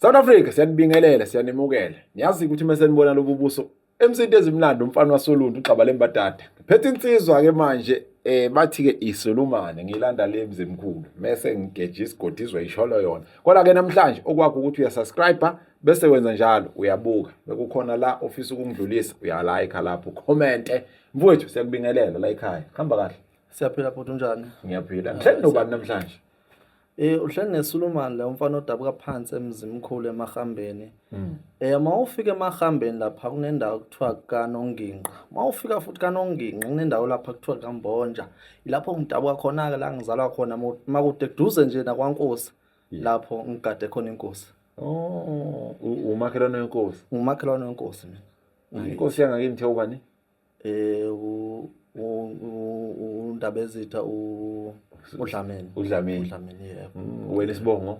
South Africa siyanibingelela siyanimukela niyazi ukuthi uma senibona lobu buso emsinto ezimnandi umfana wasoluntu ugxaba lembadada ngiphethe insizwa ke manje eh bathi ke isolumane ngilanda le mzimkhulu mese ngigeje isigodi izwe isholo yona kodwa ke namhlanje okwakho ukuthi uyasubscribe bese wenza njalo uyabuka bekukhona la ofisa ukungidlulisa uyalike lapho comment mfowethu siyakubingelela la ekhaya hamba kahle siyaphila bhuti unjani ngiyaphila ngihleli nobani namhlanje Eh uhleli neSulumani la umfana odabuka phansi emzimkhulu emahambeni. Mm. Eh mawufika emahambeni lapha kunendawo kuthiwa kaNonginqa. Mawufika futhi kaNonginqa kunendawo lapha kuthiwa kaMbonja. Ilapho ngidabuka khona ke la ngizalwa khona makude duze nje nakwaNkosi. Lapho ngigade khona inkosi. Oh umakhelwane wenkosi. Umakhelwane wenkosi mina. Inkosi yangakini thiya ubani? um undabezitha udlameni udlameni udlameni yebo mm, wena isibongo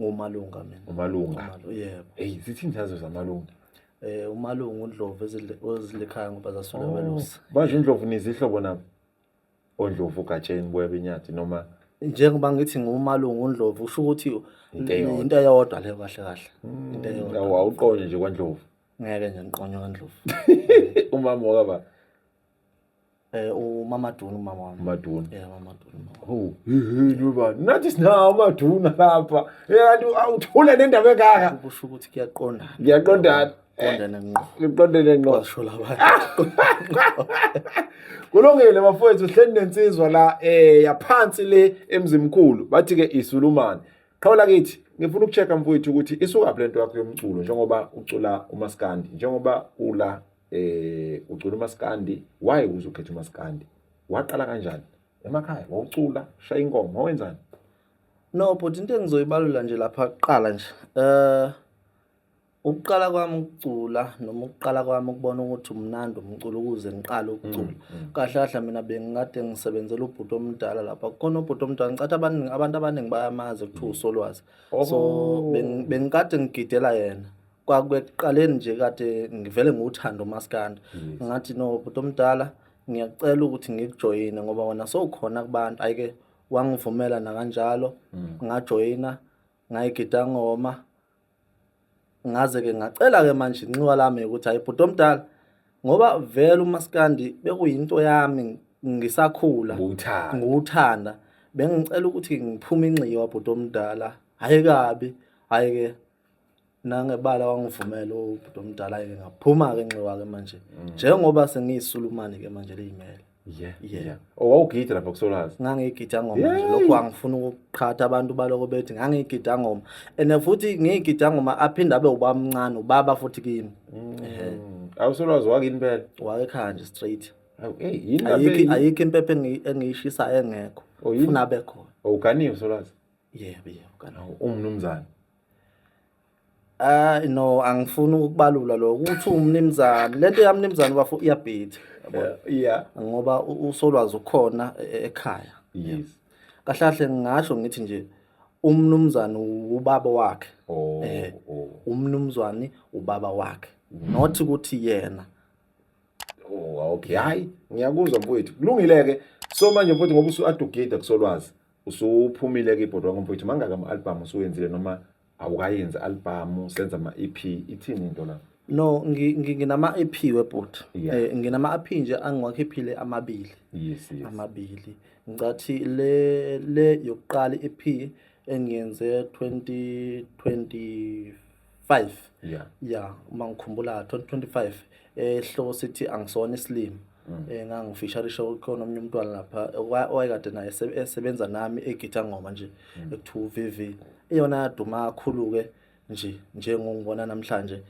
ngumalunga mina umalunga yebo eyi zithini zazo zamalunga eh umalungu undlovu ezilekhaya ngoba zasula oh, belusa manje indlovu nizihlobo nabo ondlovu gatsheni boya benyathi noma njengoba ngithi ngumalungu undlovu usho ukuthi into eyodwa leyo kahle kahle into eyodwa awuqonde nje kwandlovu ngeke nje ngiqonywa kandlovu umama wakaba eh umamaduna umama wami maduna yeah umamaduna oh yini uba nathi sinawo umaduna lapha yakanti awuthula nendaba engaka kusho ukuthi kuyaqonda ngiyaqonda qondene ngqo ngqondene ngqo washo labantu kulungile bafowethu hleni nensizwa la eh yaphansi le emzimkhulu bathi ke isulumane Qhawe lakithi ngifuna ukuchecka mfowethu ukuthi isukaphi lento yakho yomculo njengoba ucula umaskandi njengoba ula eh ucula umaskandi why uze ukhetha umaskandi waqala kanjani emakhaya wawucula shaya ingoma wenzani no but into engizoyibalula nje lapha kuqala nje eh Ukuqala kwami ukucula noma ukuqala kwami ukubona ukuthi umnandi umculo ukuze ngiqale ukucula. Mm, mm. Kahle kahle mina bengikade ngisebenzela ubhuti omdala lapha. Kukhona ubhuti omdala ngicathi abaningi abantu abaningi bayamazi kuthiwa mm. uSolwazi. So oh. bengikade ngigidela yena. Kwakuqaleni nje kade ngivele ngiwuthanda umaskandi. Ngathi no bhuti omdala ngiyacela ukuthi ngikujoyine ngoba wena sowukhona kubantu. Ayike wangivumela nakanjalo ngajoyina ngayigida ngoma. ngaze-ke ngacela-ke manje inxiwa lami ukuthi hayi bhuti omdala ngoba vele umaskandi bekuyinto yami ngisakhula ngiwuthanda bengicela ukuthi ngiphume inxiwa bhuti omdala hhayi kabi hhayi-ke nangebala wangivumela ubhuti omdala-ke ngaphuma-ke nxiwa-ke manje mm. njengoba sengiyisulumane-ke manje liyimele Yeah, Yeah. yeah. Oh, wawugida lapha kusolwazi. ngangiyigida ngoma nje Yay! lokhu angifuna ukuqhatha abantu baloko bethi ngangiyigida ngoma and futhi ngiyigida ngoma aphinde abe ubamncane ubaba futhi kimi Mm. Awusolwazi wakini impela. wayekhaya nje straight Awu, hey, yini lapha ayikho eyi- ayikho impepho engi- engiyishisayo engekho Oh, yini? funa abe khona Awuganiwe solwazi. yebo yebo kana Awu, Umnumzane. Hayi no angifuni ukubalula lo ukuthi umnimzane lento yamnimzane bafo iyabhitha yeah ngoba u- usolwazi ukhona e- e- ekhaya yes kahle kahle ngingasho ngithi nje umnumzane ubaba wakhe oh Eh. oh umnumzwane ubaba wakhe not ukuthi yena Oh, okay. Hayi, ngiyakuzwa mfowethu. Kulungile-ke. So manje mfowethu ngoba usu-adugida kusolwazi. Usuphumile-ke ibhodwa ngoba mfowethu mangaka ama-albhamu usuwenzile noma awukayenzi albhamu senza ama-ep ithini into la no ngi- ngi- nginama-ep webhuti Yeah. Eh, nginama-ep nje angiwakhiphile amabili yes yes amabili ngicathi le le yokuqala i-ep engiyenze 2025 yeah ya uma ngikhumbula 2025 eh sihloko sithi angisona isilima Mm. Eh ngangifisharisha ukhona omunye umntwana lapha owayekade naye esebenza nami egitha ngoma nje mm. ekuthiwa uVV. Iyona yaduma kakhulu ke nje njengongibona namhlanje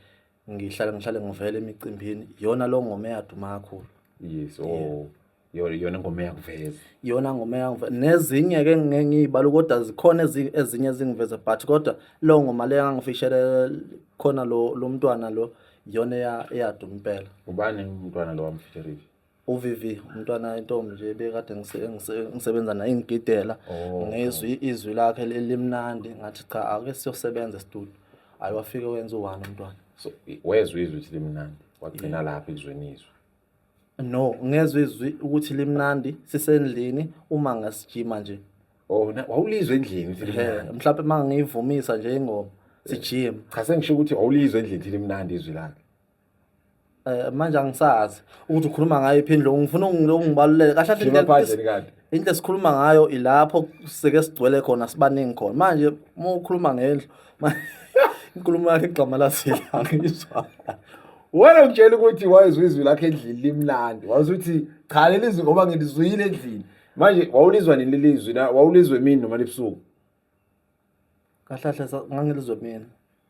ngihlale ngihlale ngivele emicimbini iyona lo ngoma eyaduma kakhulu. Yes oh iyona ngoma eyakuveza. Iyona ngoma eyangiveza nezinye ke ngeke ngiyibala kodwa zikhona ezinye ezingiveza but kodwa lo ngoma le yangifishele khona lo lo mntwana lo iyona eya- eyaduma impela ubani umntwana lo wamfeteriki uVV umntwana intombi nje bekade ngise- ngise- ngisebenza naye ngigidela Oh, ngizwe izwi lakhe li- limnandi ngathi cha ake siyosebenza estudio hayi wafike wenza u-one umntwana so i- wezwa izwi ukuthi limnandi wagcina lapha ekuzweni izwi No, ngezwe izwi ukuthi limnandi sisendlini uma ngasijima nje. Oh, wawulizwe endlini ukuthi limnandi. Mhlawumbe uma ngiyivumisa nje ingoma sijima. Cha sengisho ukuthi wawulizwe endlini ukuthi limnandi izwi lakhe. Eh manje angisazi ukuthi ukhuluma ngayo iphindlo ngifuna ngilongibalulele kahle kahle indlu esikhuluma ngayo ilapho sike sigcwele khona sibaningi khona manje uma ukhuluma ngendlu inkulumo yakhe igqama lasile angizwa wena ngitshela ukuthi wayezwa izwi lakhe endlini limnandi wazuthi cha leli zwi ngoba ngilizwile endlini manje wawulizwa nini leli zwi wawulizwe emini noma libusuku kahle kahle sa- ngangilizwe mina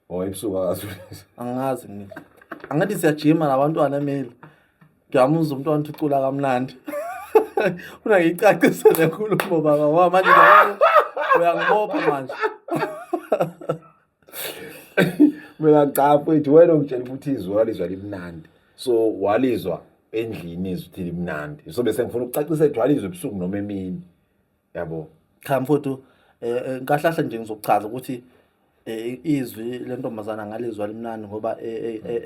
Oh, ebusuku akazi. angazi mina angathi siyajima nabantwana emeli ngiyamuzwa umntwana uthi ucula kamnandi funa ngiyicacise le nkulumo baba ngoba manje ngiyabona uyangibopha manje Mina cha mfethu wena ungitshela ukuthi izwi walizwa limnandi. So walizwa endlini izwi ukuthi limnandi. So bese ngifuna ukucacisa ukuthi walizwa ebusuku noma emini. yabo cha mfowethu eh, eh, nkahlahla nje ngizokuchaza ukuthi eh, izwi lentombazana ngalizwa limnandi ngoba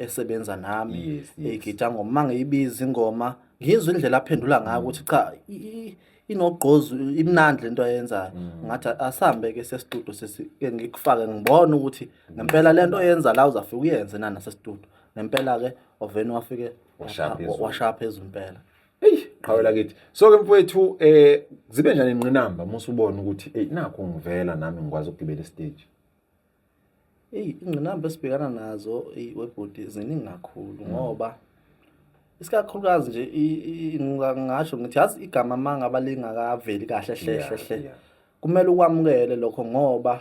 esebenza nami egida ngoma mangiyibiza ingoma ngizwe indlela aphendula ngayo ukuthi cha inogqozi imnandi lento ayenzayo mm. ngathi asambe ke sesitudio sesike ngikufake ngibone ukuthi ngempela lento oyenza la uzafika uyenze nana sesitudio ngempela ke oveni wafike washaya phezulu impela eyi qhawe lakithi so-ke mfowethu um eh, zibe njani inqinamba uma usubona ukuthi eyi nakho ngivela nami ngikwazi ukugibela isiteji eyi ingqinamba esibhekana nazo webhodi ziningi kakhulu mm. ngoba isikakhulukazi nje ngingasho ngithi yazi igama uma ngaba lingakaveli kahle hle hle hle kumele ukwamukele lokho ngoba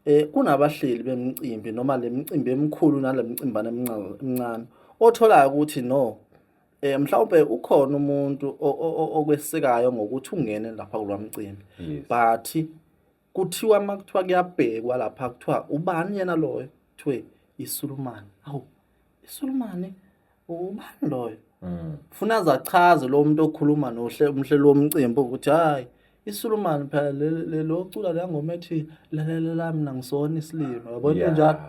eh kunabahleli bemicimbi noma lemicimbi emikhulu nalemicimbana emincane otholayo ukuthi no eh mhlawumbe ukhona umuntu okwesekayo ngokuthi ungene lapha kulwamcimbi but kuthiwa makuthiwa kuyabhekwa lapha kuthiwa ubani yena loyo kuthiwe isulumane awu isulumane ubani loyo mm. funa zachaze lo muntu okhuluma nohle umhlelo womcimbi ukuthi hayi isulumani phela lelo cula la ngoma ethi lalela la mina ngisona isilima yabo into njalo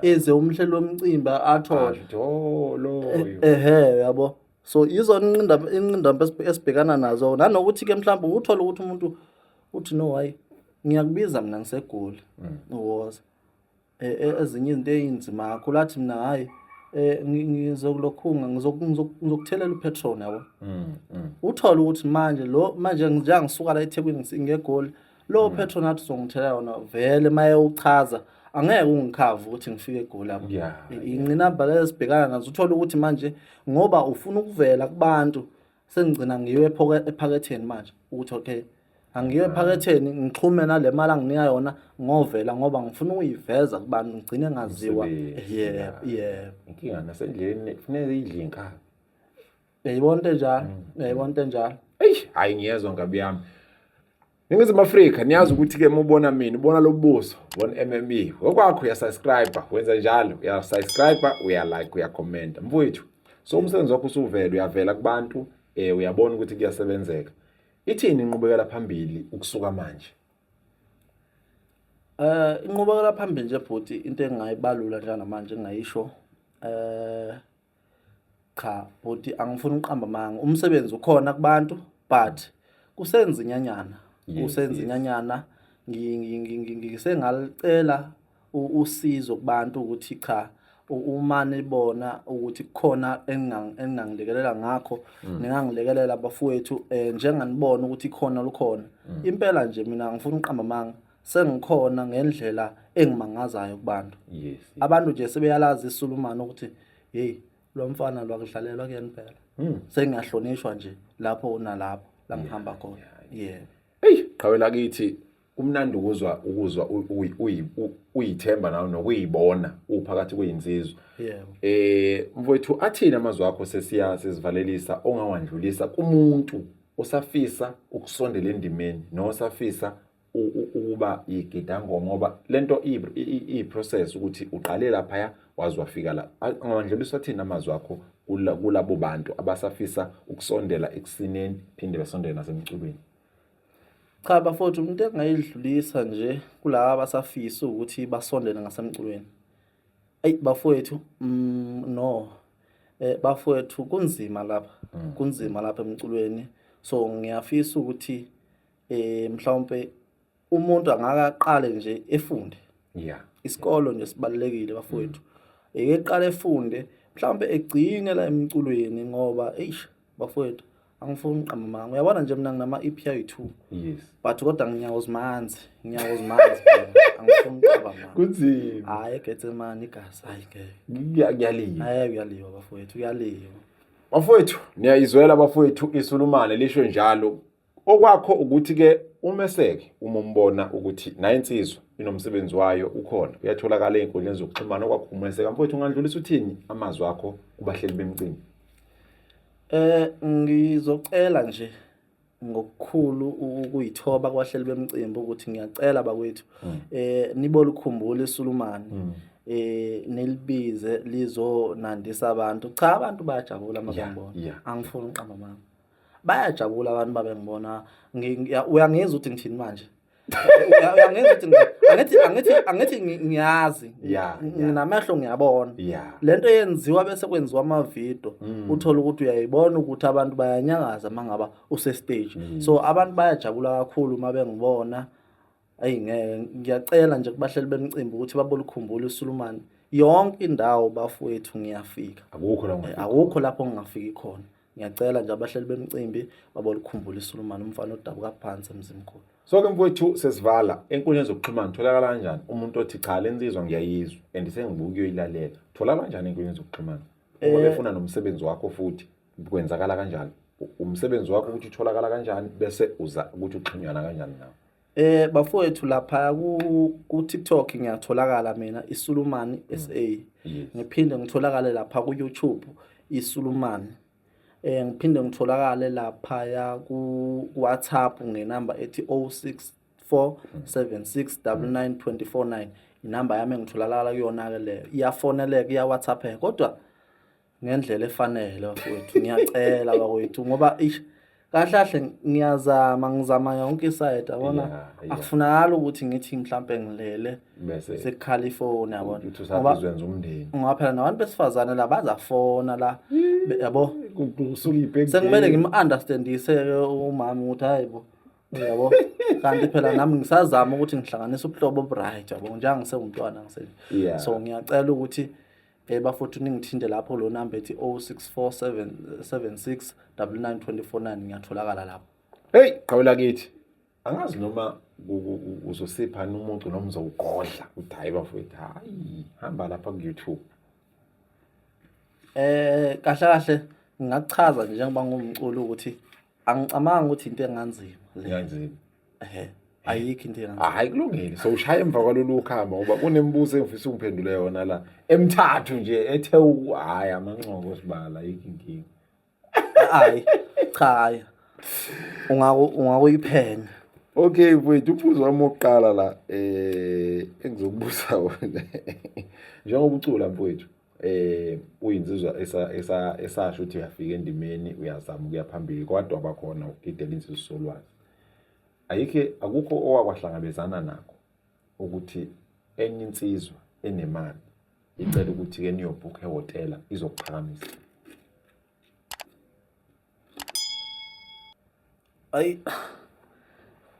eze umhlelo womcimbi athole njolo eh, ehe yabo so izona inqinda inqinda esibhekana nazo nanokuthi ke mhlawumbe uthola ukuthi umuntu uthi no hayi ngiyakubiza mina ngisegoli mm. uwoza eh, eh, ezinye izinto ezinzima kakhulu athi mina hayi eh ngizokulokhunga ngizokuthelela upetrol yabo mm, mm. uthole ukuthi manje lo manje ngisuka la eThekwini ngegoli lo mm. petrol nathi songithela yona vele maye uchaza angeke ungikhava ukuthi ngifike egoli lapho inqinamba lesibhekana nazo uthole ukuthi manje ngoba ufuna ukuvela kubantu sengigcina ngiyo ephaketheni manje ukuthi okay angiyo ephaketheni ngixhume nale mali anginika yona ngovela ngoba ngifuna ukuyiveza kubantu ngigcine ngaziwa yebo yebo inkinga nasendleleni kufuneka idle inkaba yayibona into enjalo yayibona into enjalo eyi hhayi ngiyezwa ngabi yami Ningizimu Afrika niyazi ukuthi ke mubona mina ubona lobuso bon MME ngokwakho uya subscribe wenza njalo uya subscribe uya like uya comment mfowethu so umsebenzi wakho usuvela uyavela kubantu eh uyabona ukuthi kuyasebenzeka ithini inqubekela phambili ukusuka manje eh inqubekela phambili nje bhuti into engayibalula njengamanje ngayisho eh cha bhuti angifuni uqamba manga umsebenzi ukhona kubantu but kusenza inyanyana kusenza inyanyana ngisengalicela usizo kubantu ukuthi cha uma nibona ukuthi kukhona engingangilekelela ngakho mm. ningangilekelela bafowethu um njenganibona ukuthi khona lukhona mm. impela nje mina ngifuna uqamba amanga sengikhona ngendlela engimangazayo kubantu yes abantu nje sebeyalazi isulumani ukuthi hey lo mfana lwakudlalelwa kuyena phela hmm. sengiyahlonishwa nje lapho unalapho la ngihamba khona yeah hey qhawela kithi kumnandi ukuzwa ukuzwa uyithemba nawe nokuyibona uphakathi kweyinsizwa eh mfowethu athini amazwi akho sesiya sizivalelisa ongawandlulisa kumuntu osafisa ukusondela endimeni nosafisa ukuba yigidangoma ngoba lento i process ukuthi uqale lapha wazi wafika la angandlula usathini amazwi akho kulabo bantu abasafisa ukusondela ekusineni phinde besondele nasemculweni cha bafowethu umuntu engayidlulisa nje kulaba abasafisa ukuthi basondele ngasemculweni ayi bafowethu mm, no eh bafowethu kunzima lapha mm. kunzima lapha emculweni so ngiyafisa ukuthi eh mhlawumbe umuntu angaka aqale nje efunde yeah isikolo nje sibalekile bafowethu eke qale efunde mhlawumbe egcine la emculweni ngoba eish bafowethu angifuni uqamba manga uyabona nje mina nginama EP ayi2 yes but kodwa nginyawo zimanzi nginyawo zimanzi angifuni uqamba manga kunzima hayi egethe mani igasa hayi ngeke ngiyaliwa hayi uyaliwa bafowethu uyaliwa bafowethu niyayizwela bafowethu isulumane lisho njalo Okwakho ukuthi ke umeseke uma umbona ukuthi naye insizwa inomsebenzi wayo ukhona uyatholakala ezinkundleni zokuxhumana okwakho umeseka mfowethu ungandlulisa uthini amazwi akho kubahleli bemcimbi Eh ngizocela nje ngokukhulu ukuyithoba kwahleli bemcimbi ukuthi ngiyacela bakwethu hmm. eh nibolikhumbula isulumani hmm. eh nilibize lizonandisa abantu cha abantu bayajabula mabambona angifuni uqamba mama bayajabula abantu babe ngibona uyangeza ukuthi ngithini manje uyangeza ukuthi angithi angithi angithi ngiyazi nginamehlo ngiyabona le nto yenziwa bese kwenziwa amavidiyo mm. uthole ukuthi uyayibona ukuthi abantu bayanyangaza uma ngaba usestage mm. so abantu bayajabula kakhulu uma bengibona ayi ngeke ngiyacela nje kubahleli bemcimbi ukuthi babolukhumbula uSulumane yonke indawo bafowethu ngiyafika akukho la eh, akukho lapho ngingafiki khona ngiyacela nje abahleli bemcimbi babolukhumbula iSulumane umfana odabuka phansi emzimkhulu so ke mfowethu sesivala enkundleni zokuxhumana tholakala kanjani umuntu othi cha lensizwa ngiyayizwa and sengibuka uyoyilalela tholakala kanjani enkundleni zokuxhumana uma eh, befuna nomsebenzi wakho futhi kwenzakala kanjani umsebenzi wakho ukuthi utholakala kanjani bese uza ukuthi uxhunyana kanjani nawo Eh bafowethu lapha ku ku TikTok ngiyatholakala mina iSulumani SA. Yes. Ngiphinde ngitholakale lapha ku YouTube iSulumani. Eh ngiphinde ngitholakale lapha ya ku WhatsApp ngenamba ethi 0647699249 inamba yami engitholakala kuyona ke leyo. Iyafoneleka iya WhatsApp kodwa ngendlela efanele bafowethu ngiyacela bakwethu ngoba ish kahle kahle ngiyazama ngizama yonke isayidi yabona akufunakala ukuthi ngithi mhlawumpe ngilele sekukhala ifoni yabona ngoba phela nabantu besifazane la bazafona la yabo sekumele ngim-understandise-ke umama ukuthi hayi bo yabo kanti phela nami ngisazama ukuthi ngihlanganise ubuhlobo oburyt yabo njengangisewumntwana ngiseni so ngiyacela ukuthi Eh bafowethu ningithinte lapho lo number ethi 064776 99249 ngiyatholakala lapho. Hey, qhawula kithi. Angazi noma uzosipha umuntu noma uzowugodla ukuthi hayi bafowethu hayi hamba lapha ku YouTube. Eh kahle kahle ngingakuchaza nje njengoba ngumculi ukuthi angicamangi ukuthi into enganzima leyanzima ehe ayikho into enganzima hayi kulungile so ushaya emva kwalolu khamba ngoba kunemibuzo engifisa ungiphendule yona la emthathu nje ethe hayi amanqoko sibala ayikho inkingi hayi cha hayi ungako ungakuyiphenya okay mfowethu umbuzo wami wokuqala la eh engizokubuza wona njengoba ucula mfowethu eh uyinsizwa esasho ukuthi uyafika endimeni uyazama ukuya phambili kodwa bakhona ukugidela insizwa solwazi ayikhe akukho owakwahlangabezana nakho ukuthi enye insizwa enemali icela ukuthi ke niyobhukha ehotela izokuphakamisa Ayi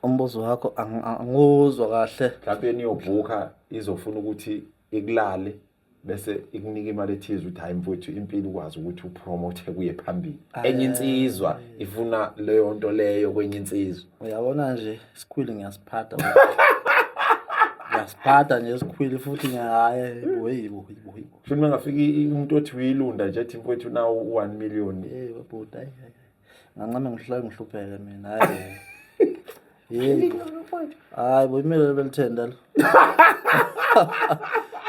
umbuzo wakho anguzwa kahle. Mhlawumbe niyobhuka izofuna ukuthi ikulale bese ikunika imali ethize ukuthi hayi mfowethu impilo ukwazi ukuthi upromote kuye phambili enye insizwa ifuna leyo nto leyo kwenye insizwa uyabona nje isikhwili ngiyasiphatha ngiyasiphatha nje isikhwili futhi ngiyaye boyibo boyibo futhi uma ngafika umuntu othi uyilunda nje ethi mfowethu nawo u-one million hey babhuti hayi ngancame ngihlale ngihlupheke mina hayi yebo hayi bo imele belithenda lo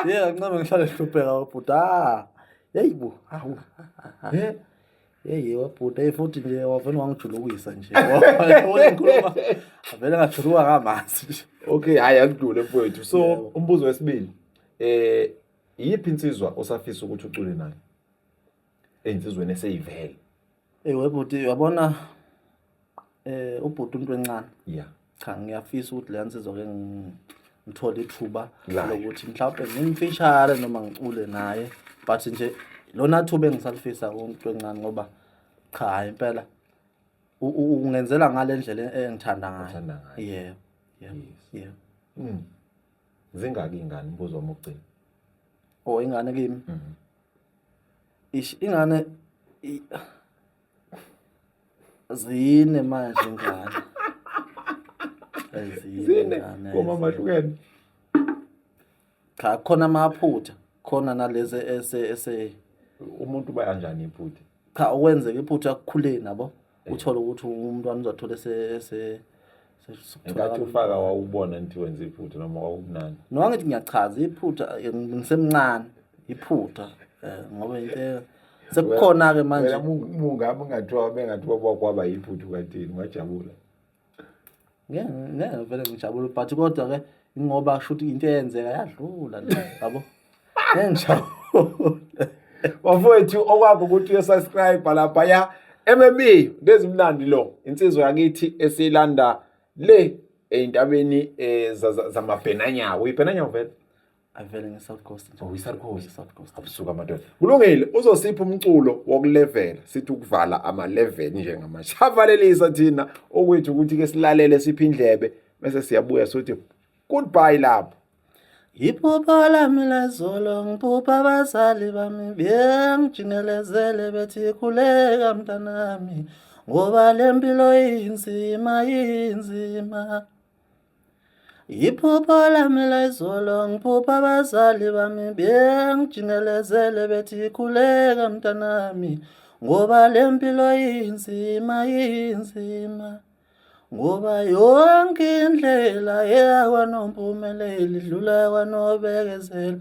ye ngancame ngihlale ngihlupheka babhuti ah yeyi bo awu yeyi wabhuti eyi futhi nje wavele wangijulukisa nje ngikhuluma avele ngajuluka kamanzi nje okay hhayi akudule mfowethu so umbuzo wesibili um iyiphi insizwa osafisa ukuthi ucule nayo eynsizweni eseyivele ewe bhuti uyabona eh ubhuti umuntu wencane yeah cha ngiyafisa ukuthi leya nsizwa ke ngithole ithuba lokuthi mhlawumbe ngimfishare noma ngicule naye but nje lona thuba engisalifisa umuntu wencane ngoba cha hayi impela ungenzela ngale ndlela engithanda ngayo yebo yebo yebo zingaki ingane mbuzo wami ugcina oh ingane kimi mm -hmm. ish ingane i, zine manje ingane zine komama hlukene cha khona amaphutha khona nalezi ese ese umuntu bayanjani iphutha cha okwenzeka iphutha kukhuleni nabo eh. uthole ukuthi umntwana uzothole se se Ngathi ufaka wawubona nti wenza iphutha noma wawubunani. No angithi ngiyachaza iphutha eh, ngisemncane iphutha eh, ngoba into sekukhona ke manje. Wena mungami ngathiwa bengathiwa kwakwaba yiphutha kathini wajabula. ngeke ngeke vele ngijabule but kodwa ke ngoba shuthi into eyenzeka yadlula le yabo ngeke ngijabule bafowethu okwakho ukuthi uyosubscribe lapha ya MMB ndezimnandi lo insizwa yakithi esilanda le eyintabeni eh, zamabhenanyawo ibhenanyawo vele avele nge-south coast nje. Oh, i-South Coast. South coast abusuka amadoda kulungile uzosipha umculo wokulevela sithi ukuvala ama-level njengamanje savalelisa thina okwethu ukuthi ke silalele siphe indlebe bese siyabuya sothi goodbye lapho Iphupho lami lezolo ngiphupha abazali bami bengijingelezele bethi khuleka mntanami ngoba le mpilo inzima inzima Iphupho lami layizolo ngiphupha abazali bami bengijimelezele bethi khuleka mntanami ngoba le mpilo inzima inzima ngoba yonke indlela eya kwanompumeleli idlula kwanobekezela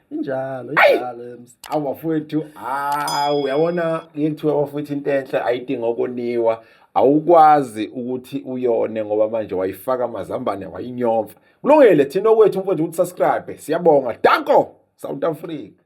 injalo injalo ems awu bafowethu hawu uyabona ngeke kuthiwe bafowethu into enhle ayidinga ukoniwa awukwazi ukuthi uyone ngoba manje wayifaka amazambane wayinyomfa kulungile thina okwethu mfowethu ukuthi subscribe siyabonga danko south africa